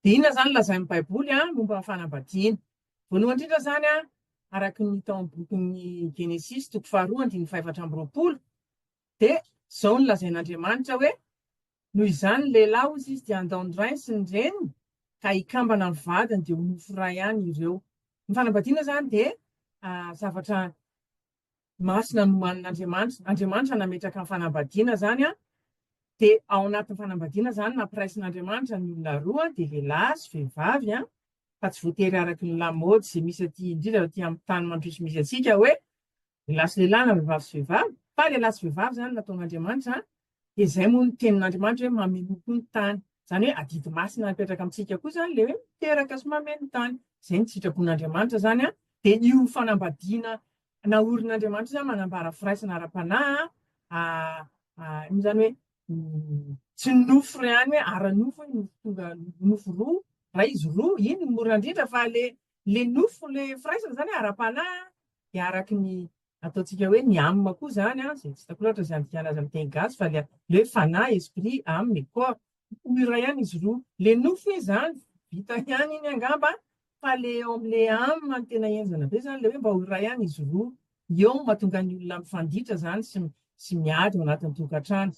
Dia inona izany lazain'ny Baiboly momba ny fanambadiana? Voalohany indrindra izany, araka ny hita ao amin'ny bokin'ny Genesisy, toko faharoa, andininy fahefatra amby roapolo, dia izao no lazain'Andriamanitra hoe, Noho izany ny lehilahy, hoy Izy, dia handao ny rainy sy ny reniny, ka hikambana amin'ny vadiny, dia ho nofo iray ihany ireo. Ny fanambadiana izany dia zavatra Masina no manin'Andriamanitra, Andriamanitra nametraka ny fanambadiana izany an, dia ao anatin'ny fanambadiana izany nampiraisin'Andriamanitra ny olona roa dia lehilahy sy vehivavy an, fa tsy voatery araka ny lamaody izay misy aty indrindra aty amin'ny tany mandroso misy antsika hoe lehilahy sy lehilahy na vehivavy sy vehivavy, fa lehilahy sy vehivavy izany nataon'Andriamanitra an, dia izay moa ny tenin'Andriamanitra hoe mamenoa koa ny tany, izany hoe adidy masina mipetraka amintsika koa izany ilay hoe miteraka sy mameno ny tany, izay ny sitrapon'Andriamanitra izany an, dia io fanambadiana Naorin'Andriamanitra izany manambara firaisana ara-panahy an, izany hoe tsy ny nofo ry any hoe ara-nofo hoe nofo tonga nofo roa, ray izy roa, iny no mora indrindra fa le le nofo le firaisana izany ara-panahy dia araka ny ataontsika hoe ny âme koa izany an, izay tsy hitako loatra izany dikany azy amin'ny teny gasy fa le hoe fanahy, esprit, âme et corps, Ho iray ihany izy roa. Le nofy hoe zany, vita ihany iny angamba fa le eo amle âme no tena henjana be zany le hoe mba ho iray ihany izy roa. Eo no mahatonga ny olona mifanditra zany sy sy miady ao anatin'ny tokantrano.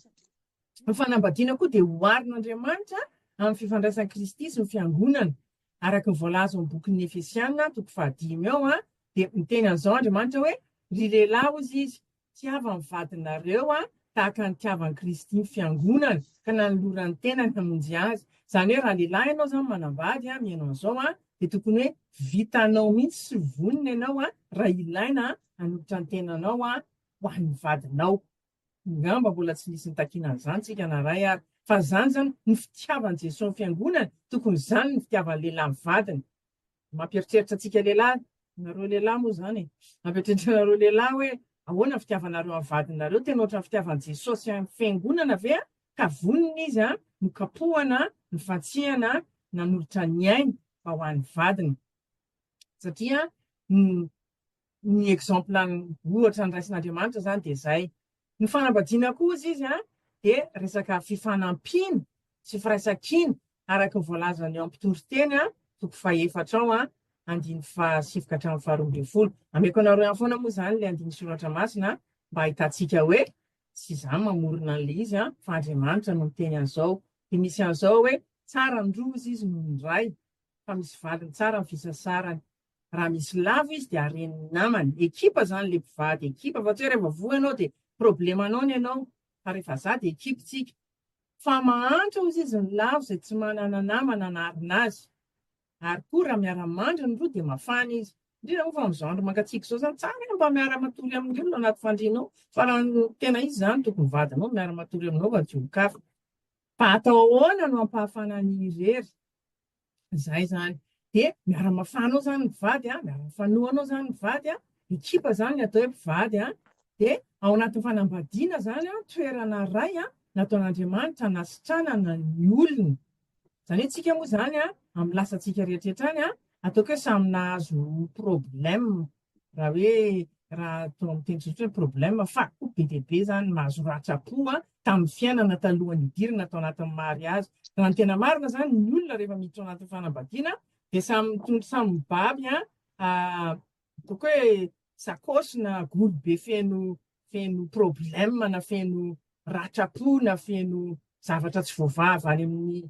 Ny fanambadiana koa dia oharin'Andriamanitra amin'ny fifandraisan'i Kristy sy ny fiangonana. Araka ny voalaza ao amin'ny bokin'ny Efesiana toko fahadimy ao dia miteny an'izao Andriamanitra hoe ry lehilahy hozy izy Tiava ny vadinareo tahaka ny tiavan'i Kristy ny fiangonana, ka nanolorany ny tenany hamonjy azy. Izany hoe raha lehilahy ianao izany manambady, mihaino an'izao an, dia tokony hoe vitanao mihitsy sy vonona ianao raha ilaina hanolotra ny tenanao ho an'ny vadinao. Angamba mbola tsy nisy nitakiana an'izany isika na iray ary, fa izany izany no fitiavan'i Jesoa ny fiangonana, tokony izany no fitiavan'ny lehilahy ny vadiny. Mampieritreritra antsika lehilahy, nareo lehilahy moa izany e, mampieritreritra anareo lehilahy hoe ahoana ny fitiavanareo an'ny vadinareo, tena ohatran'ny fitiavan'i Jesosy an'ny Fiangonana ve an, ka vonona izy an, nokapohana, nofantsihana, nanolotra ny ainy fa ho an'ny vadiny. Satria Ny exemple ny ohatra noraisin'Andriamanitra izany dia izay. Ny fanambadiana koa hozy izy an, dia resaka fifanampiana sy firaisan-kina araka ny voalazany eo amin'ny mpitoriteny an, toko fahefatra ao an, andininy fahasivy ka hatramin'ny faharoa ambin'ny folo. Ameko anareo ihany foana moa izany ilay andininy soratra masina an, mba hahitantsika hoe tsy izaho mamorona an'ilay izy an, fa Andriamanitra no miteny an'izao. Dia misy an'izao hoe, tsara ny roa hozy izy noho ny iray, fa misy valiny tsara ny fisasarany. Raha misy lavo izy dia haren'ny namany. Ekipa izany ilay mpivady, ekipa fa tsy hoe rehefa voa ianao dia problemanao ny anao fa rehefa za dia ekipa tsika. Fa mahantra hozy izy ny lavo izay tsy manana namana hanarina azy. Ary koa raha miara-mandry ny roa dia mafana izy. Indrindra moa fa amin'izao andro mangatsiaka izao izany tsara ianao mba miara-matory amin'ny olona anaty fandrianao fa raha ny tena izy izany tokony ny vadinao miara-matory aminao fa tsy olon-kafa. Fa atao ahoana no hampahafana an'irery? Izay izany. Dia miara-mafahanao izany ny vady, miara-mifanohanao izany ny vady, ekipa izany ny atao hoe mpivady. Dia ao anatin'ny fanambadiana izany, toerana iray nataon'Andriamanitra hanasitranana ny olony. Izany hoe isika moa izany amin'ny lasantsika rehetra rehetra any, ataoko hoe samy nahazo problème. raha hoe raha atao amin'ny teny tsotra hoe problème fa koa be dia be izany mahazo ratsa-po tamin'ny fiainana talohan'ny hidirana tao anatin'ny mariazy. Raha ny tena marina izany ny olona rehefa miditra ao anatin'ny fanambadiana dia samy mitondra samy mibaby ataoko hoe sakôsy na golo be feno feno problème na feno ratsa-po na feno zavatra tsy voavaha avy any amin'ny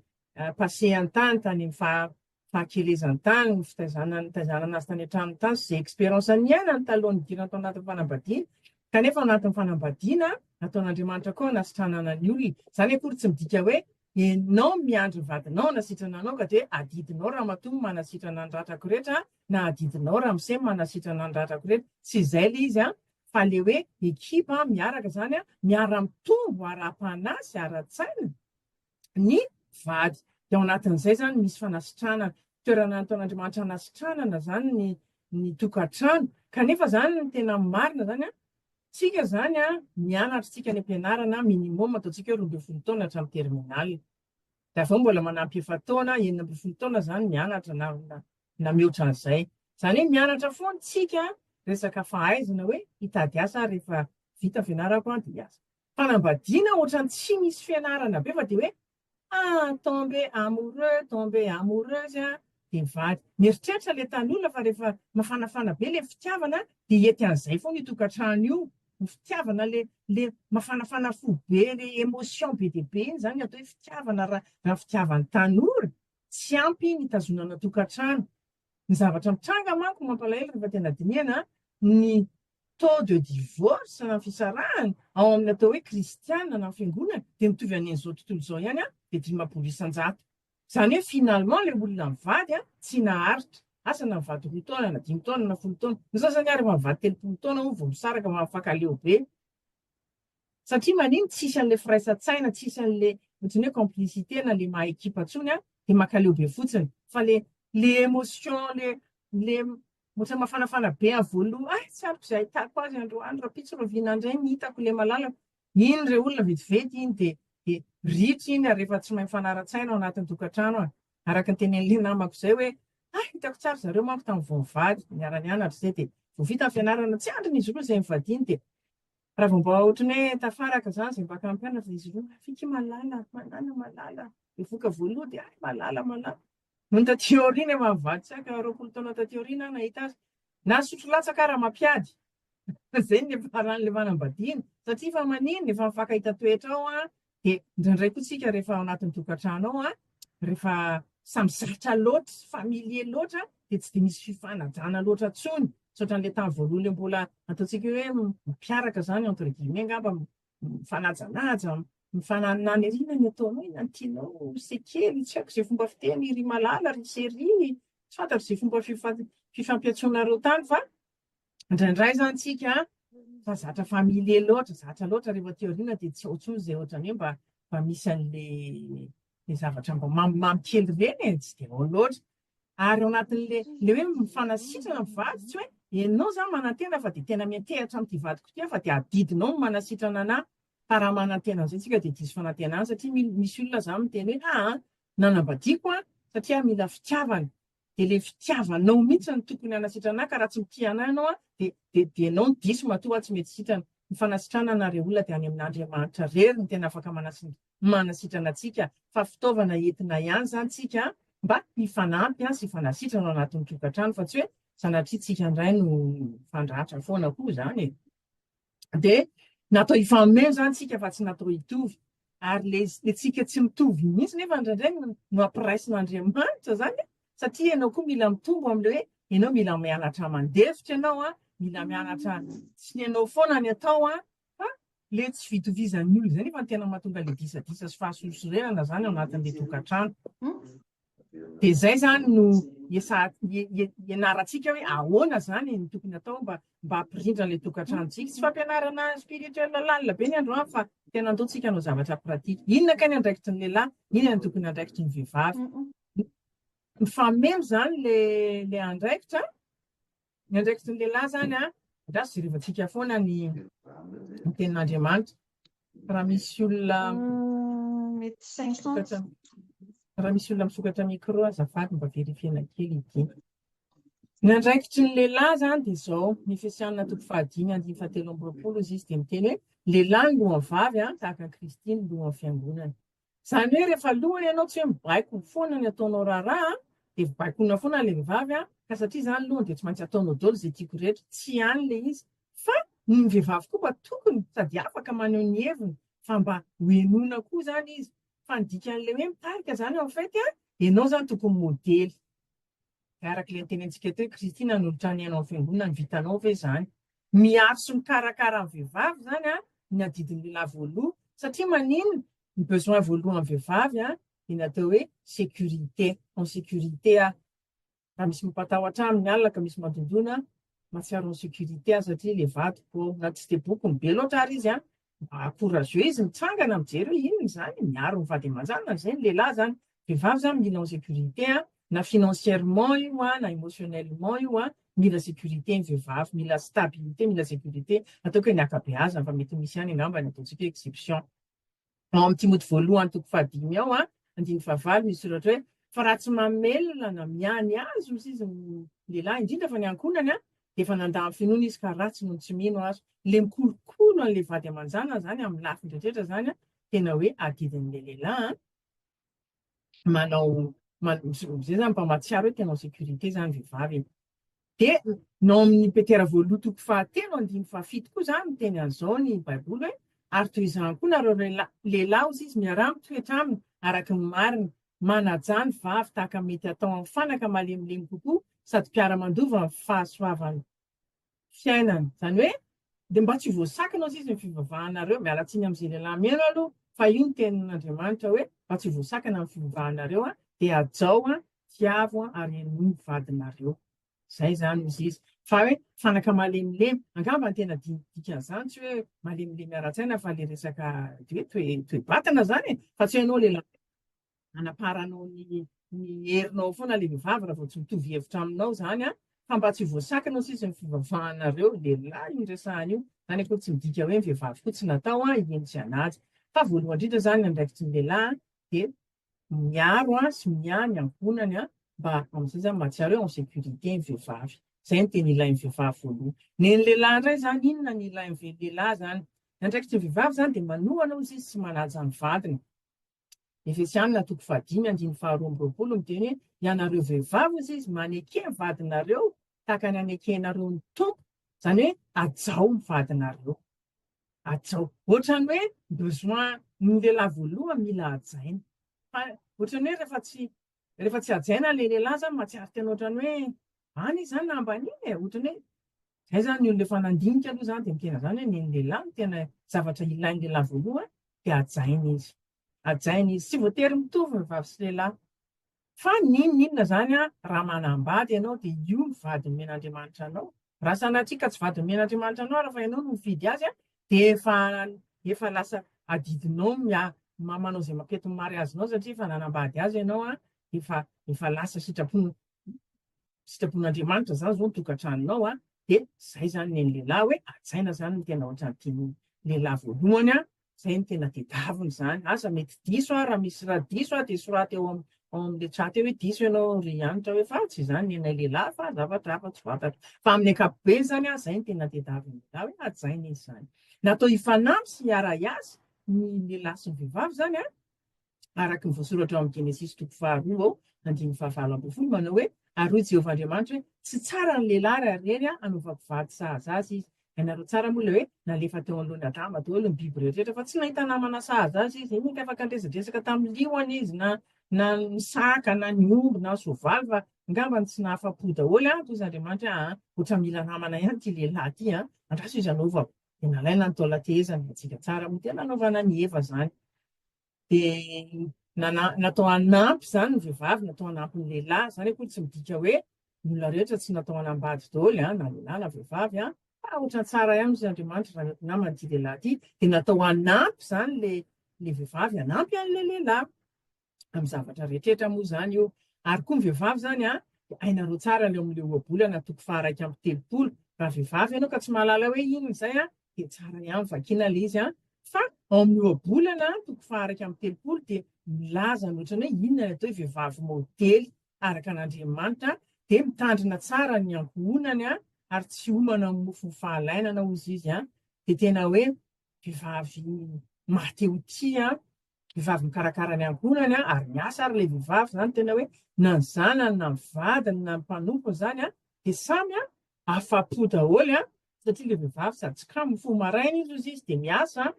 passé an-tany tany amin'ny faha fahakelezan-tany, ny fitaizana, nitaizana azy tany an-tranony tany, sy izay expérience niainany taloha nidirany tao anatin'ny fanambadiana, kanefa ao anatin'ny fanambadiana, nataon'Andriamanitra koa hanasitranana ny olona. Izany akory tsy midika hoe ianao miandry ny vadinao hanasitrana anao ka dia adidinao ramatoa ny manasitrana ny ratrako rehetra na adidinao ramose ny manasitrana ny ratrako rehetra. Tsy izay ilay izy an, fa ilay hoe ekipa miaraka izany an, miara-mitombo ara-panahy sy ara-tsaina, ny vady. Dia ao anatin'izay izany misy fanasitranana. Toerana nataon'Andriamanitra hanasitranana izany ny ny tokantrano. Kanefa izany ny tena marina izany an, tsika izany an, mianatra tsika any am-pianarana, minimum ataontsika hoe roa ambin'ny folo taona hatramin'ny terminale. Dia avy eo mbola manampy efa-taona, enina ambin'ny folo taona izany mianatra na na na mihoatra an'izay. Izany hoe mianatra foana tsika resaka fahaizana hoe hitady asa aho rehefa vita ny fianarako an dia hiasa. Fanambadiana ohatrany tsy misy fianarana be fa dia hoe ah tombe amoureux tombe amoureuse a dia mivady. Mieritreritra ilay tanin'olona fa rehefa mafanafana be ilay fitiavana dia hiety an'izay foana io tokantrano io, ny fitiavana ilay ilay mafanafana fo be ilay émotion be dia be iny izany ny atao hoe fitiavana raha raha fitiavan'ny tanora, tsy ampy iny hitazonana tokantrano. Ny zavatra mitranga manko mampalahelo rehefa tena dinihana ny taux de divorce na fisarahana ao amin'ny atao hoe kristiana na fiangonana dia mitovy an'izao tontolo izao ihany dia dimampolo isan-jato. Izany hoe finalement ilay olona mivady tsy naharitra. Asa na mivady roa taona na dimy taona na folo taona. Ny sasany ary efa mivady telopolo taona moa vao misaraka fa mahafakaleo be. Satria maniny tsisy anle firaisan-tsaina tsisy anle otrany hoe complicité na le maha ekipa tsony a de makaleo be fotsiny fa le le emotion le le otrany mafanafana be avy voaloha ay tsy ariko ze ahitako azy androany rapitso rahoviana ndray ny hitako le malalako iny re olona vetivety iny de de ritra iny ary efa tsy mahay mifanara-tsaina ao anatin'ny tokantrano a araka ny teneninle namako zay hoe ay hitako tsara zareo manko tamin'ny vao nivady niara-nianatra zay de vao vita ny fianarana tsy andriny izy roa zay nivadiany de Raha vao mba ohatran'ny hoe tafaraka izany izay mpaka hampianatra dia izy ireo maviky malala, malala, malala. Mivoka voaloha dia ay malala, malala. Nony taty aoriana efa mivadika aka roapolo taona taty aoriana aho nahita azy. Nasotro latsaka aho Ramampiady. Izay no efa raha nilevana am-badiny. Satria efa maninona, efa mifankahita toetra ao aho, Dia indraindray koa tsika rehefa ao anatin'ny tokantrano ao an, rehefa samy zatra loatra, familier loatra dia tsy dia misy fifanajana loatra intsony, tsy ohatran'ilay tamin'ny voalohany ilay mbola ataontsika hoe mampiaraka izany entre guillemets angamba, mifanajanaja, mifanananirina ny ataonao, inona no tianao, c'est kely, tsy haiko izay fomba fiteny ry Malala, ry Cherie, tsy fantatro izay fomba fifampiantsoanareo tany fa indraindray zany tsika fa zatra familier loatra zatra loatra rehefa aty aoriana dia tsy ao intsony izay ohatrany hoe mba mba misy an'le le zavatra mba mamimamy kely ireny e tsy dia ao loatra ary ao anatin'le le hoe mifanasitrana mivady tsy hoe ianao zany manantena fa dia tena miantehatra amin'ity vadiko ity fa dia adidinao ny manasitrana anahy fa raha manantena an'izay tsika dia diso fanantenana satria misy olona zany miteny hoe aa Nanambadiako an, satria mila fitiavana, dia le fitiavanao mintsy no tokony hanasitrana ahy ka raha tsy mitia anah ianao an, dia dia dia enao no diso matoa aho tsy mety sitrana. Ny fanasitrana anareo olona dia any amin Andriamanitra rery no tena afaka manasi manasitrana antsika fa fitaovana entina ihany zany tsika an, mba hifanampy an sy hifanasitrana ao anatin tokatrano fa tsy hoe sanatria tsika ndray no mifandratra foana koa zany e. dia natao hifanomena izany isika fa tsy natao hitovy. Ary le le tsika tsy mitovy mihitsy nefa indraindray no no ampiraisin'Andriamanitra zany e. satria ianao koa mila mitombo amin'ilay hoe ianao mila mianatra mandefitra ianao a, mila mianatra tsy ny anao foana ny atao a, fa le tsy fitovizan'ny olona izay nefa ny tena mahatonga le disadisa sy fahasosorenana zany ao anatin'ilay tokantrano. Dia izay izany no ianarantsika hoe ahoana izany no tokony atao mba mba hampirindra ilay tokantranontsika. Tsy fampianarana spirituel lalina be ny androany fa tena antontsika hanao zavatra pratique. Inona kay ny andraikitry ny lehilahy, inona ny tokony andraikitry ny vehivavy. Mifameno izany ilay andraikitra. Ny andraikitry ny lehilahy izany an, angaha tsy jerevantsika foana ny tenin'Andriamanitra. Raha misy olona misokatra, raha misy olona misokatra micro azafady mba verifiena kely ity. Ny andraikitry ny lehilahy izany dia izao, ny Efesiana toko fahadimy andininy fahatelo amby roapolo, hoy izy dia miteny hoe, Lehilahy ny lohan'ny vavy an, tahaka an'i Kristy ny lohan'ny fiangonana. Izany hoe rehefa aloha ianao tsy hoe mibaiko foana ny ataonao raharaha dia baikoina foana ilay vehivavy an, ka satria izaho ny lohany dia tsy maintsy ataonao daholo izay tiako rehetra, tsy ihany ilay izy fa ny vehivavy koa mba tokony sady afaka maneho ny heviny fa mba ho henoina koa izany izy, fa ny dikan'ilay hoe mitarika izany en fait an, ianao izany tokony modely, araka ilay notenentsika teo hoe Kristy nanolotra ny aina ho fiangonana, ny vitanao ve izany? Miaro sy mikarakara ny vehivavy izany ny adidin'ny lehilahy voaloha satria maninn ny besoin voalohan'ny vehivavy dia ny atao hoe sécurité, en sécurité aho. Raha misy mampatahotra ahy amin'ny alina ka misy mandondona, mahatsiaro en sécurité aho satria ilay vadiko ao na tsy dia bokony be loatra ary izy Mba courageuse mitsangana mijery hoe inona izany, miaro ny vady aman-janany izay ny lehilahy izany, vehivavy izany mila en sécurité an, na financièrement io an, na émotionnellement io an, mila sécurité ny vehivavy, mila stabilité, mila sécurité, ataoko hoe ny ankabeazany fa mety misy ihany angamba ny ataontsika hoe exception. Ao amin'ny Timoty voalohany toko fahadimy ao an, andininy fahavalo misy soratra hoe fa raha tsy mamelona na miany azy ozy izy ny lehilahy, indrindra fa ny ankohonany an, Efa nandà ny finoana izy ka ratsy noho ny tsy mino ary le mikolokolo an'le vady aman-janany zany amin'ny lafiny rehetra zany an, tena hoe adidin'le lehilahy an, manao zay zany mba mahatsiaro hoe tena en sécurité zany vehivavy e! Dia nao amin'ny Petera voalohany toko fahatelo andininy fahafito koa zany no teny an'izao ny baiboly hoe ary toy izany koa nareo lehilahy hozy izy miaraha mitoetra aminy araka ny marina manajà ny vavy tahaka ny mety hatao amin'ny fanaka malemilemy kokoa sady mpiara-mandova ny fahasoavan'ny fiainana. Izany hoe, dia mba tsy voasakana hozy izy ny fivavahanareo, miala tsiny amin'izay lehilahy mihaino aloha, fa io ny tenin'Andriamanitra hoe, mba tsy voasakana ny fivavahanareo an, dia hajao an, tiavo an, ary henoy ny vadinareo. Izay izany hozy izy. Fa hoe, fanaka malemilemy, angamba ny tena dikan'izany tsy hoe malemilemy ara-tsaina fa ilay resaka hoe toe-batana izany e, fa tsy hoe ianao lehilahy anaparanao ny ny herinao foana ilay vehivavy raha vao tsy mitovy hevitra aminao izany an, fa mba tsy voasakana sisa ny fivavahanareo ry lehilahy io resahana io, izany akory tsy midika hoe ny vehivavy koa tsy natao an, hihaino tsy hanaja, fa voalohany indrindra izany ny andraikitry ny lehilahy dia miaro an sy miahy ny ankohonany an, mba amin'izay izany mahatsiaro hoe en sécurité ny vehivavy, izay no tena ilain'ny vehivavy voalohany, ny an'ny lehilahy indray izany inona no ilain'ny lehilahy izany, ny andraikitry ny vehivavy izany dia manohana hozy izy sy manaja ny vadiny, Efesianina toko fahadimy andiny faharoa amby roapolo miteny hoe ianareo vehivavy hozy izy maneke ny vadinareo tahaka ny anekenareo ny tompo izany hoe ajao ny vadinareo ajao ohatrany hoe besoin ny lehilahy voaloha mila ajaina fa ohatrany hoe rehefa tsy rehefa tsy ajaina le lehilahy zany mahatsiaro tena ohatrany hoe any izany na ambaniny e ohatrany hoe Izay izany ny olona efa nandinika aloha izany dia ny tena izany hoe ny an'ny lehilahy no tena zavatra ilain'ny lehilahy voalohany dia hajaina izy. Hajaina izy. Tsy voatery mitovy ny vavy sy lehilahy. Fa n'inon'inona izany raha manambady ianao dia io no vady nomen'Andriamanitra anao. Raha sanatria ka tsy vady nomen'Andriamanitra anao ary fa ianao no mifidy azy dia efa efa lasa adidinao ny manao izay mampiety ny mariazinao satria efa nanambady azy ianao dia efa efa lasa sitrapony sitrapon'Andriamanitra zany zao ny tokantranonao a de zay zany ny an'ny lehilahy hoe hajaina zany ny tena ohatran'ny tian'ny lehilahy voalohany a zay ny tena tedaviny zany aza mety diso a raha misy raha diso a de soraty eo am- ao amin'le chat eo hoe diso ianao ry Hanitra hoe fa tsy izany ny anay lehilahy fa zavatra hafa tsy fantatra fa amin'ny ankapobeny zany a zay ny tena tedaviny lehilahy hoe hajaina izy zany natao hifanampy sy hiara-hiasa ny lehilahy sy ny vehivavy zany a araka ny voasoratra ao amin'ny Genesisy toko faharoa ao andininy fahavalo ambin'ny folo, manao hoe, Ary hoy Jehovah Andriamanitra hoe, Tsy tsara ny lehilahy raha ry rery hanaovako vady sahaza azy izy. Hainareo tsara moa ilay hoe nalefa teo anoloan'i Adama daholo ny biby rehetra, fa tsy nahita namana sahaza azy izy. Inona afaka niresadresaka tamin'ny liona izy na na ny saka na ny omby na ny soavaly fa angambany tsy nahafa-po daholo an, toy iz'Andriamanitra hoe aa, ohatra mila namana ihany ity lehilahy ity an, andraso izy hanaovako. Dia nalaina ny taolan-tehezany, hiantsika tsara moa dia nanaovana an'i Eva izany. dia nana- natao hanampy izany ny vehivavy, natao hanampy ny lehilahy. Izany akory tsy midika hoe ny olona rehetra tsy natao hanambady daholo an, na lehilahy na vehivavy an, fa ohatran'ny tsara ihany hoy Andriamanitra raha ny namany ity lehilahy ity, dia natao hanampy izany ilay ilay vehivavy hanampy an'ilay lehilahy amin'ny zavatra rehetrrehetra moa izany io. Ary koa ny vehivavy izany an, dia hainareo tsara ny ao amin'ilay ohabolana toko faha iraika amby telopolo. Raha vehivavy ianao ka tsy mahalala hoe inona izay an, dia tsara ihany vakiana ilay izy an! Fa ao amin'ny ohabolana toko fahairaika amby telopolo dia milaza ny ohatran'ny hoe inona ny atao hoe vehivavy maodely araka an'Andriamanitra, dia mitandrina tsara ny ankohonany an, ary tsy homana amin'ny mofon'ny fahalainana hozy izy an! Dia tena hoe vehivavy maha te ho tia an! Vehivavy mikarakara ny ankohonany an, ary miasa ary ilay vehivavy izany, tena hoe na ny zanany na ny vadiny na ny mpanompony izany an, dia samy an, afa-po daholo an, satria ilay vehivavy sady tsy kamo, mifoha maraina izy hozy izy dia miasa,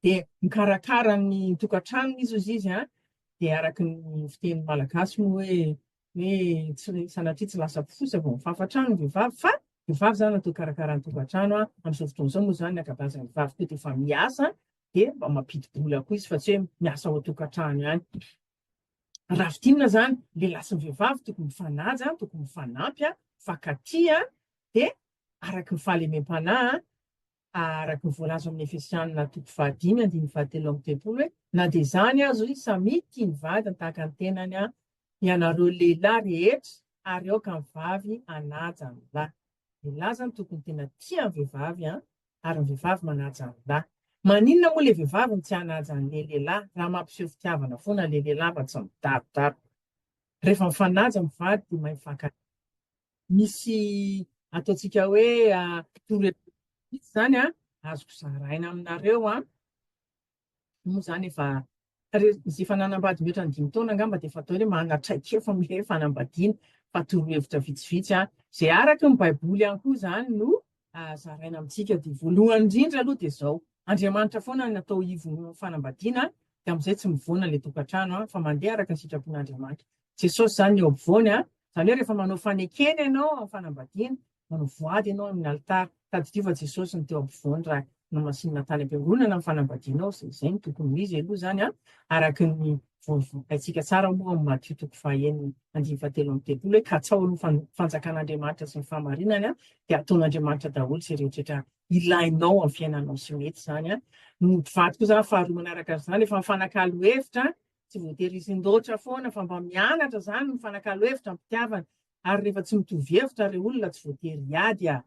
dia mikarakara ny tokantranony izy hozy izy an, dia araka ny fitenin'ny malagasy moa hoe hoe tsy sanatria tsy lasa mpifosa vao mifafa trano ny vehivavy fa ny vehivavy izany natao hikarakara ny tokantrano an, amin'izao fotoana izao moa izany ny ankabeazan'ny vehivavy koa dia efa miasa dia mba mampidi-bola koa izy fa tsy hoe miasa ao an-tokantrano ihany. Rafitinina zany lehilahy sy ny vehivavy tokony mifanaja, tokony mifanampy, mifankatia, dia araky ny fahalemem-panahy, araky ny voalaza ao amin'ny Efesianina toko fahadimy andininy fahatelo amby telopolo hoe, na dia izany aza hoy izy, samia tia ny vadiny tahaka ny tenany ianareo lehilahy rehetra, ary aoka ny vavy hanaja ny lahy. Ny lahy zany tokony tena tia ny vehivavy an, ary ny vehivavy manaja ny lahy. Maninona moa le vehivavy no tsy hanaja anle lehilahy raha mampiseho fitiavana foana le lehilahy fa tsy midarodaroka. Rehefa mifanaja mivady de mahay mifankatia. Misy ataontsika hoe torohevitra vitsy zany an, azoko zaraina aminareo an. Moa izany efa Tarezin'izy efa nanambady mihoatra ny dimy taona angamba dia efa atao hoe manana traikefa amin'ilay hoe fanambadiana fa torohevitra vitsivitsy an. Izay araka ny Baiboly ihany koa izany no zaraina amintsika dia voalohany indrindra aloha dia izao. Andriamanitra foana no atao ivon'ny fanambadiana dia amin'izay tsy mivoana ilay tokantrano an fa mandeha araka ny sitrapon'Andriamanitra. Jesosy izany ny eo ampovoany an. Izany hoe rehefa manao fanekena ianao amin'ny fanambadiana Manao voady ianao amin'ny alitara. Tadidio fa Jesosy no teo ampovoany raha nomasinina tany am-piangonana ny fanambadianao, izay izay no tokony ho izy aloha izany an, araka ny voavokaintsika tsara moa amin'ny Matio toko fahaenina andininy fahatelo amby telopolo hoe katsaho ny fanjakan'Andriamanitra sy ny fahamarinany an, dia ataon'Andriamanitra daholo izay rehetrarehetra ilainao amin'ny fiainanao sy mety izany an. Ny ody vato koa izany faharoa manaraka an'izany efa mifanakalo hevitra an, tsy voatery hisindoatra foana fa mba mianatra izany mifanakalo hevitra am-pitiavana, ary rehefa tsy mitovy hevitra ireo olona tsy voatery hiady a!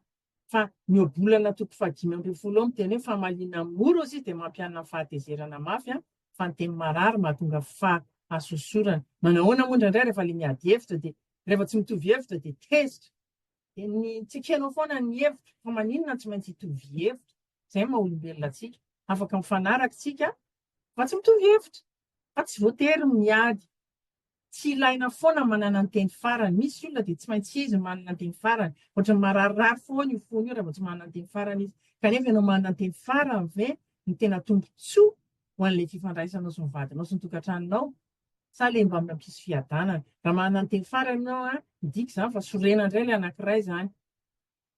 Fa ny eo bolana toko fahadimy ambin'ny folo eo miteny hoe famaliana amin'ny mora ozy dia mampianina ny fahatezerana mafy a! Fa ny teny marary mahatonga fahasosorana. Manahoana moa indraindray rehefa ilay miady hevitra dia rehefa tsy mitovy hevitra dia tezitra. Dia ny tsy ekenao foana ny hevitra, fa maninona tsy maintsy hitovy hevitra? Izay ny maha olombelona antsika. Afaka mifanaraka tsika fa tsy mitovy hevitra. Fa tsy voatery ny miady. Tsy ilaina foana ny manana ny teny farany. Misy olona dia tsy maintsy izy no manana ny teny farany. Ohatran'ny mararirary foana io fony io raha vao tsy manana ny teny farany izy. Kanefa ianao manana ny teny farany ve no tena tombontsoa ho an'ilay fifandraisanao sy ny vadinao sy ny tokantranonao? Sa ilay mba mampisy fiadanana? Raha manana ny teny farany ianao, midika izany fa sorena indray ilay anankiray izany.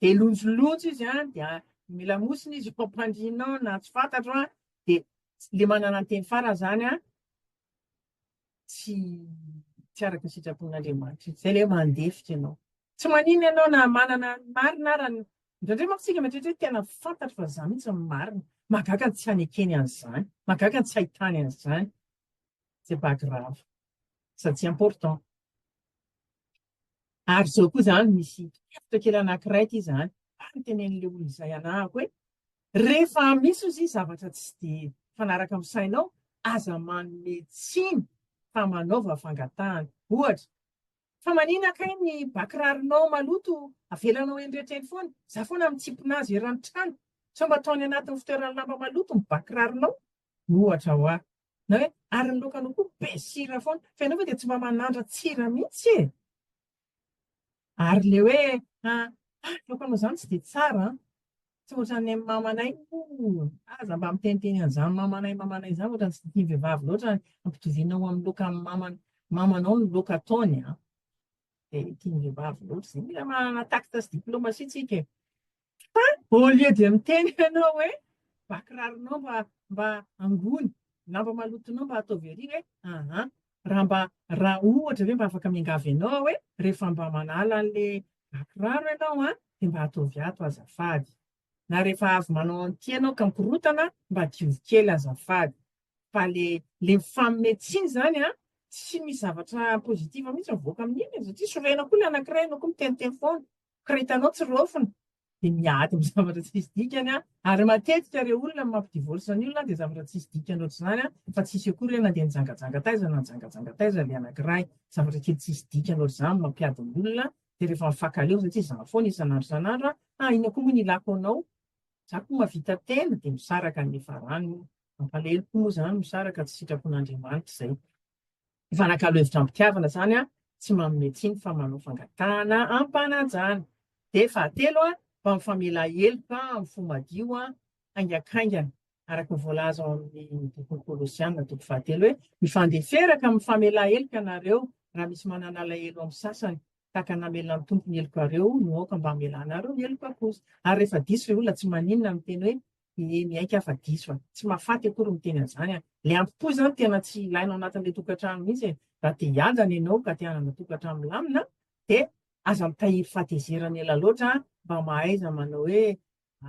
Dia lonjolonjo izy an, dia ny lamosina izy ampandriana an, na tsy fantatro an, dia le manana ny teny farany zany an, tsy tsy araka ny sitrapon'Andriamanitra izy, zay le mandefitra ianao. Tsy manino ianao na manana ny marina ara, indraindray manko tsika mieritreritra hoe tena fantatro fa za mintsy no marina, mahagaga ny tsy hanekeny an'izany, mahagaga ny tsy hahitany an'izany, c'est pas grave, sady tsy important. Ary izao koa izany misy torohevitra kely anankiray ity izany, ary ny tenenin'ilay olona izay hanahako hoe, rehefa misy hozy zavatra tsy dia mifanaraka amin'ny sainao, aza manome tsiny fa manaova fangatahana. Ohatra, fa manina kay ny ba kiraronao maloto avelanao eny rehetra eny foana? Izaho foana mitsipona azy eran'ny trano. Sao mba ataony anatin'ny fitoeran'ny lamba maloto ny ba kiraronao? Ohatra ho ahy. Na hoe, ary ny laoka aloha koa be sira foana. Fa ianao ve dia tsy mba manandran-tsira mihitsy e? Ary ilay hoe, ah, ny laokanao izany tsy dia tsara an! Tsy ohatran'ny an'ny mamanay, oh! aza mba miteniteny an'izany mamanay mamanay izany, ohatran'ny tsy dia tian'ny vehivavy loatra ny ampitoviana ho amin'ny laokan'ny maman'ny mamanao ny laoka ataony an! Dia tian'ny vehivavy loatra izay. Mila maha tacte sy diplomatie tsika e! Fa au lieu dia miteny ianao hoe ba kiraronao mba mba angony, lamba malotonao mba ataovy ery hoe aa raha mba raha ohatra ve mba afaka miangavy ianao aho hoe rehefa mba manala an'le ba kiraro ianao an dia mba ataovy ato azafady na rehefa avy manao an'ity ianao ka mikorotana mba diovy kely azafady fa le le mifaminay tsiny zany an tsy misy zavatra positif mihitsy mivoaka amin'iny e, satria sorena koa le anankiray ianao koa miteniteny foana Koroitanao tsy raofina dia miady amin'ny zavatra tsisy dikany ary matetika ireo olona mampidivorsa ny olona dia zavatra tsisy dikany ohatr'izany fa tsisy akory hoe nandeha nijangajanga taiza na nijangajanga taiza ilay anankiray. Zavatra kely tsisy dikany ohatr'izany no mampiady ny olona dia rehefa mifankaleo satria izaho foana isan'andro isan'andro a, inona koa moa no ilako anao? Izaho koa mahavita tena dia misaraka any efa rano io. Mampalahelo koa moa izany misaraka tsy sitrapon'Andriamanitra izay. Mifanakalo hevitra am-pitiavana izany an, tsy manome tsiny fa manao fangatahana am-panajana. Dia fahatelo an, mba mifamela heloka amin'ny fo madio an, haingankaingana, araka ny voalaza ao amin'ny bokin'ny Kolosiana, toko fahatelo hoe, Mifandeferaka, mifamela heloka ianareo, raha misy manana alahelo amin'ny sasany, tahaka ny namelan'ny Tompo ny helokareo, no aoka mba hamelanareo ny helokako kosa. Ary rehefa diso ilay olona, tsy maninona, miteny hoe, dia miaiky afa diso a! tsy mahafaty akory miteny an'izany a! le ampi-po izany tena tsy ilaina ao anatin'ilay tokantrano mihitsy e! raha te hiadana ianao ka te hanana tokantrano milamina dia aza mitahiry fahatezerana ela loatra mba mahaiza manao hoe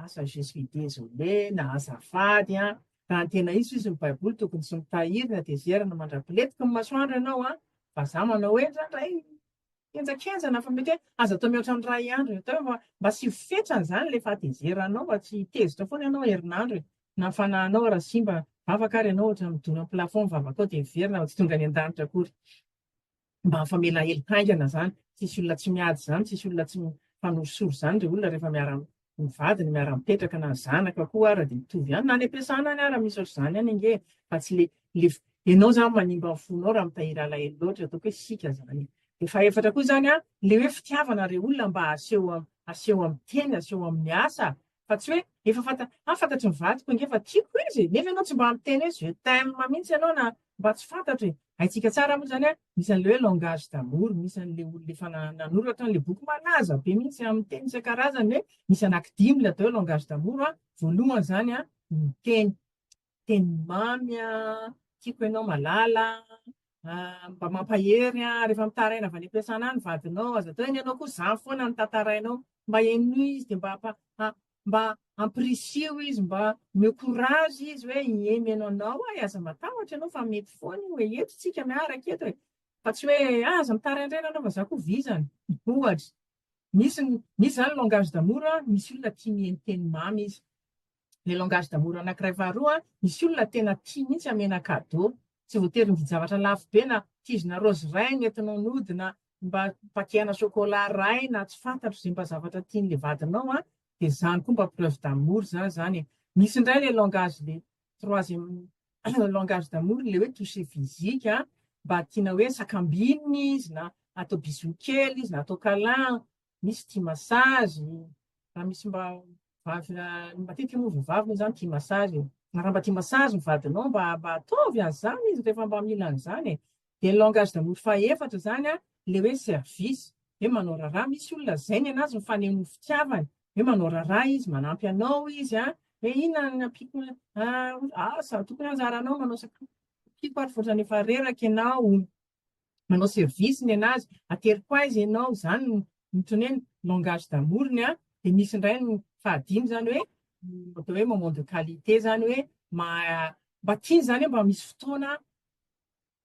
asa je suis désolé na azafady an! raha ny tena izy izy ny baiboly tokony tsy mitahiry ny hatezerana mandra-piletika ny masoandro ianao an! vazaha manao hoe indraindray Henjakenja na fa mety hoe aza atao mihoatra ny iray andro atao hoe mba asio fetrany izany ilay fahatezeranao mba tsy hitezitra foana ianao herinandro e. Na ny fanahinao ary simba vavaka ary ianao ohatran'ny midona amin'ny plafond ny vavakao dia miverina fa tsy tonga any an-danitra akory. Mba mifamela hely haingana izany. Tsisy olona tsy miady izany, tsisy olona tsy mifanorisory izany ry olona rehefa miara ny vadiny miara-mipetraka na ny zanaka koa ara dia mitovy ihany na any am-piasana any ara misy ohatr'izany any ange fa tsy le le ianao zany manimba ny fonao raha mitahiry alahelo loatra ataoko hoe sika zany dia fahefatra koa zany a le hoe fitiavana re olona mba aseho am aseho amin'ny teny aseho amin'ny asa fa tsy hoe efa fanta ah fantatry ny vadiko ange fa tiako izy nefa ianao tsy mba miteny hoe je t'aime mihitsy ianao na Mba tsy fantatra e! Haintsika tsara moa izany an, misy an'ilay hoe langage d'amour, misy an'ilay olona efa nanoratra an'ilay boky malaza be mihitsy amin'ny teny isan-karazany hoe misy anankidimy ilay atao hoe langage d'amour an, voalohany izany an, ny teny, teny mamy an, tiako ianao malala an, mba mampahery an, rehefa mitaraina avy any am-piasana any ny vadinao, aza atao hoe ny anao koa zah foana no tantarainao, mba henoy izy dia mba mba ampirisiho izy, mba omeo courage izy hoe ie mihaino anao aho e, aza matahotra ianao fa mety foana io e, eto isika miaraka eto e, fa tsy hoe ah aza mitaraindraina ianao fa izaho koa vizana, ohatra. Misy misy izany langage d'amour, misy olona tia mihaino teny mamy izy. Ilay langage d'amour anankiray faharoa, misy olona tena tia mihitsy hamena cadeau. Tsy voatery mividy zavatra lafo be na kizina raozy ray no entinao nody na mba paquet-na chocolat ray na tsy fantatro ze mba zavatra tian'le vadinao an, de zany koa mba preuve d'amour zany zany e. Misy ndray le langage le troisième langage d'amour le hoe toucher physique an, mba tiana hoe sakambinina izy na atao bisous kely izy na atao câlin misy tia massage, raha misy mba vavy matetika moa vehivavy moa izany tia massage e, raha mba tia massage ny vadinao mba mba ataovy an'izany izy rehefa mba mila an'izany e, dia ny langage d'amour fahefatra izany an, ilay hoe service, hoe manao raharaha, misy olona izay ny an'azy ny fanehoany fitiavany, hoe manao raharaha izy, manampy anao izy an, hoe inona no ampiako an, ah izaho tokony anjaranao manao sakafo, ampiako ary vao ohatran'ny efa reraka ianao, manao service ny anazy, ateriko aiza ianao, izany no mitone ny langage d'amour-ny an, dia misy indray ny fahadimy izany hoe atao hoe moment de qualité izany hoe mba tiany izany hoe mba misy fotoana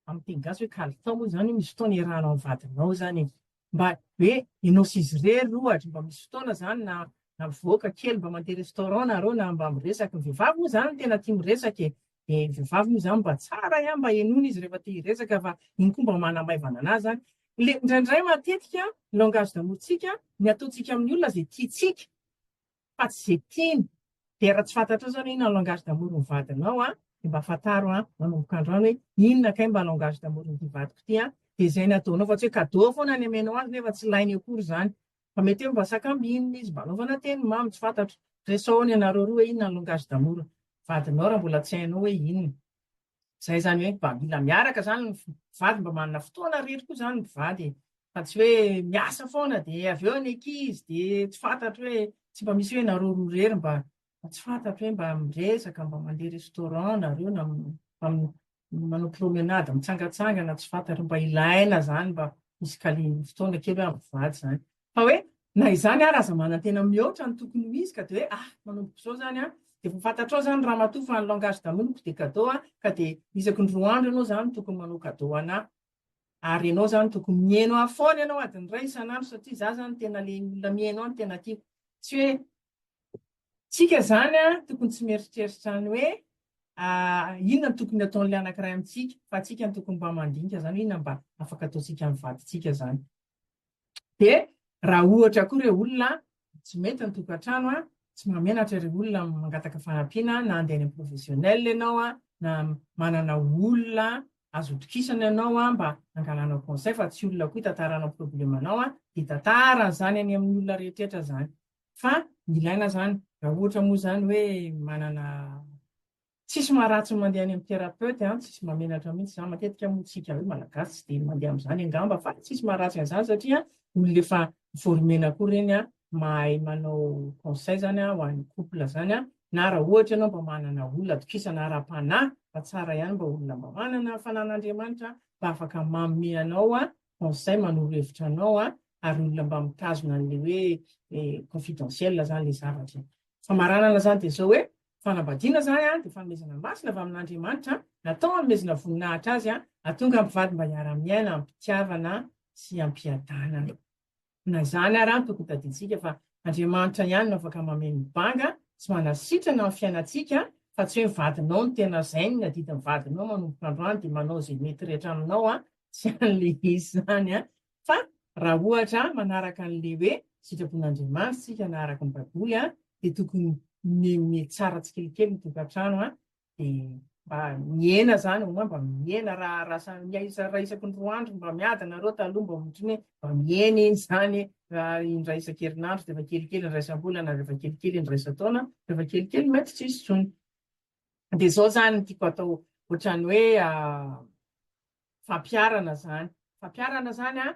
amin'ny teny gasy hoe kalitao moa izany hoe misy fotoana iarahanao amin'ny vadinao izany e, mba hoe ianao sy izy irery ohatra, mba misy fotoana izany na na mivoaka kely mba mandeha restaurant nareo na mba miresaka, ny vehivavy moa izany tena tia miresaka e, dia ny vehivavy moa izany mba tsara ihany mba henoina izy rehefa te hiresaka fa iny koa mba manamaivana an'azy izany. Ilay indraindray matetika ny langage d'amour-ntsika, ny ataontsika amin'ny olona izay tiantsika, fa tsy izay tiany, dia raha tsy fantatrao izany hoe inona langage d'amour ny vadinao an, dia mba fantaro an, manomboka androany hoe inona kay mba langage d'amour n'ity vadiko ity an, dia izay ny ataonao fa tsy hoe cadeau foana ny amenao azy nefa tsy ilainy akory izany, fa mety hoe mba sakambinina izy, mba anaovana teny mamy, tsy fantatro, resao any ianareo roa hoe inona ny langage d'amour ny vadinao raha mbola tsy hainao hoe inona. Zay zany hoe mba mila miaraka zany ny mpivady mba manana fotoana irery koa zany ny mpivady e. Fa tsy hoe miasa foana dia avy eo ny ankizy dia tsy fantatro hoe tsy mba misy hoe nareo roa irery mba mba tsy fantatro hoe mba miresaka mba mandeha restaurant nareo na mba manao promenade mitsangatsangana tsy fantatro mba ilaina zany mba misy kali- fotoana kely hoe amin'ny mpivady zany. Fa hoe na izany ary aza manantena mihoatra ny tokony ho izy ka dia hoe ah manomboka izao izany an, dia efa fantatrao izany ramatoa fa ny langage d'amour-ko dia cadeau an, ka dia isaky ny roa andro ianao izany tokony manao cadeau ho an'ahy, ary ianao izany tokony mihaino ahy foana ianao adiny iray isan'andro satria izaho izany tena ilay olona mihaino ahy no tena tiako, tsy hoe tsika izany an tokony tsy mieritreritra ny hoe ah inona no tokony hataon'ilay anankiray amintsika fa tsika no tokony mba mandinika izany hoe inona mba afaka ataontsika amin'ny vadintsika izany. Dia raha ohatra koa ireo olona tsy mety ny tokantrano, tsy mahamenatra ireo olona mangataka fanampiana na handeha any amin'ny professionnel ianao na manana olona azo itokisana ianao mba hangalanao conseil fa tsy olona koa hitantaranao problème anao dia tantara an'izany any amin'ny olona rehetrrehetra izany fa ilaina izany raha ohatra moa izany hoe manana Tsisy maharatsy ny mandeha any amin'ny thérapeute an, tsisy mahamenatra mihitsy izany, matetika moa tsika hoe malagasy tsy dia mandeha amin'izany angamba fa tsisy maharatsy an'izany satria olona efa former-na koa ireny an, mahay manao conseil izany an ho an'ny couple izany an, na raha ohatra ianao mba manana olona atokisana ara-panahy fa tsara ihany mba olona mba manana ny fananan'Andriamanitra mba afaka manome anao an conseil, manoro hevitra anao an, ary olona mba mitazona an'ilay hoe confidentiel izany ilay zavatra e. Famaranana izany dia izao hoe, Fanambadiana izany dia fanomezana masina avy amin'Andriamanitra, natao hanomezana voninahitra Azy hahatonga mpivady mba hiara-miaina amim-pitiavana sy amim-piadanana. Na izany ary no tokony tadidiantsika fa Andriamanitra ihany no afaka mameno banga sy manasitrana ny fiainantsika fa tsy hoe ny vadinao no tena zainy, ny adidin'ny vadinao manomboka androany dia manao izay mety rehetra aminao sy an'ilay izy izany. Fa raha ohatra manaraka an'ilay hoe sitrapon'Andriamanitra isika na araka ny Baiboly dia tokony mihomehimehy tsara tsikelikely ny tokantrano dia mba mihena izany au moins mba mihena raha raha raha isaky ny roa andro mba miady nareo taloha mba ohatry ny hoe mba mihena iny izany raha indray isan-kerinandro dia efa kelikely indraisam-bolana ary efa kelikely indraisan-taona dia efa kelikely mety tsy hisy intsony. dia izao izany no tiako atao ohatran'ny hoe fampiharana izany, fampiharana izany an,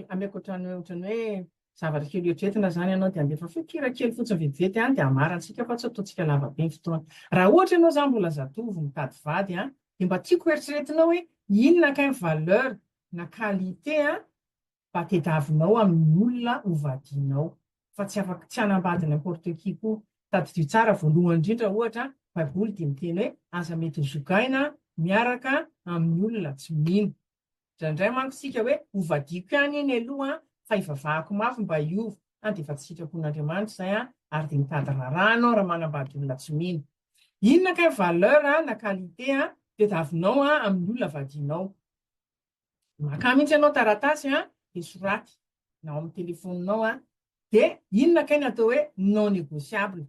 ameko ohatran'ny ohatran'ny hoe zavatra kely eritreretina izany ianao dia handefa feon-kira kely fotsiny vetivety any dia hamarantsika fa tsy ataontsika lava be ny fotoana. Raha ohatra ianao izany mbola zatovo mitady vady an, dia mba tiako hoeritreretinao hoe inona kay ny valeur na qualité an, mba tediavinao amin'ny olona ho vadianao fa tsy afaka tsy hanambady n'importe qui koa. Tadidio tsara voalohany indrindra ohatra baiboly dia miteny hoe aza mety ho zogaina miaraka amin'ny olona tsy mino. Indraindray manko isika hoe ho vadiako ihany anie ny aloha fa hivavahako mafy mba hiova an dia efa tsy sitrapon'Andriamanitra izay an ary dia mitady raharaha anao raha manambady olona tsy mino. Inona kay valeur na qualité tediavinao amin'ny olona vadianao? Makà mihitsy ianao taratasy an, dia soraty na ao amin'ny telefoninao an, dia inona kay ny atao hoe non negociable?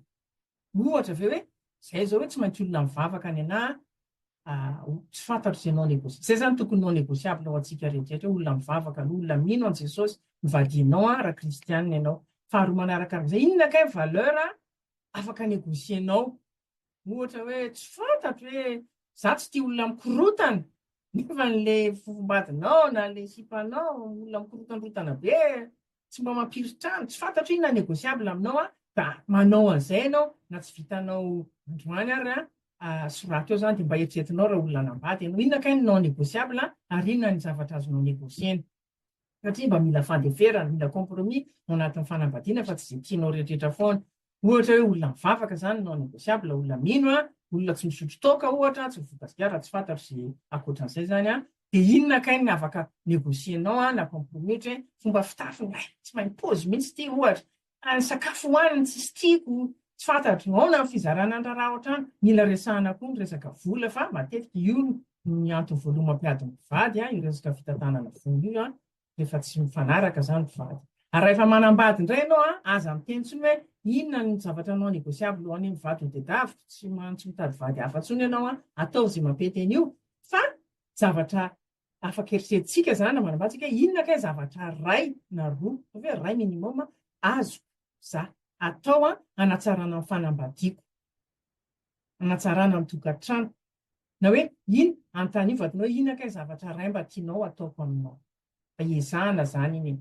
Ohatra ve hoe izay izao hoe tsy maintsy olona mivavaka any anah an, tsy fantatro izay non negociable, izay izany tokony non negociable ho antsika rehetrarehetra hoe olona mivavaka aloha, olona mino an'i Jesosy, mivadianao an raha kristianina ianao, faharoa manarakarak'izay inona kay ny valeur afaka negocier-nao? Ohatra hoe tsy fantatro hoe za tsy tia olona mikorotana nefa le fofombadinao na le sipanao olona mikorotandrotana be tsy mba mampiritrano tsy fantatro inona négociable aminao a da manao an'izay ianao na tsy vitanao androany ary a soraty eo zany de mba eritreretinao raha olona hanambady ianao inona kay ny non négociable ary inona ny zavatra azonao négocier-na satria mba mila fandeferana, mila compromis ao anatin'ny fanambadiana fa tsy izay tianao rehetrarehetra foana. Ohatra hoe olona mivavaka izany non négociable, olona mino an, olona tsy misotro toaka ohatra, tsy mivoaka sigara raha tsy fantatro izay ankoatran'izay izany an, dia inona kay ny afaka négocier-nao an, na compromis ohatra hoe fomba fitafy, hay tsy mahay pozy mihitsy ity ohatra, Raha ny sakafo hohaniny tsisy tiako, tsy fantatro, aona ny fizarana ny raharaha ohatrany, mila resahana koa ny resaka vola fa matetika io ny antony voalohany mampiady ny mpivady an, io resaka fitantanana vola io an, rehefa tsy mifanaraka zany mpivady. Ary raha efa manambady indray ianao an, aza miteny tsony hoe inona ny zavatra non negociable ho an'io mivady ho tedaviko, tsy mitady vady hafa tsony ianao an, ataovy ze mampety an'io fa zavatra afaka eritreretintsika izany na manambady isika hoe inona kay zavatra iray na roa, ataovy hoe iray minimum, azoko za atao hanatsarana ny fanambadiako, hanatsarana ny tokantranoko. Na hoe ino, anontanio vadinao hoe inona kay zavatra iray mba tianao ataoko aminao. Mba iezahana izany iny e.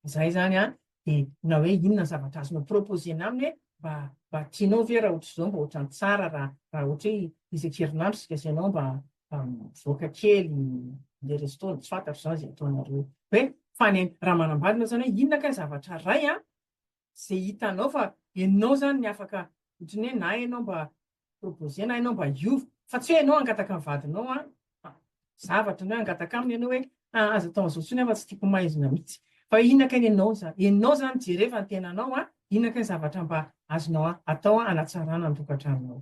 Izay izany an, dia na hoe inona ny zavatra azonao proposer-na aminy hoe mba mba tianao ve raha ohatr'izao mba ohatran'ny tsara raha raha ohatra hoe isan-kerinandro isika sy ianao mba mba mivoaka kely mandeha resto, tsy fantatro izany izay ataonareo hoe hoe fane- raha manambady ianao izany hoe inona kay zavatra iray an, ze hitanao fa enao zany ny afaka otriny hoe na enao mba proposer na enao mba hiova fa tsy hoe enao angataka ny vadinao an fa zavatra ny hoe angataka aminy enao hoe ah aza atao an'zao tsony an fa tsy tiako maizina mitsy fa inona kay ny enao zany enao zany jereo fa ny tenanao an inona kay ny zavatra mba azonao atao an anatsarana ny tokatranonao.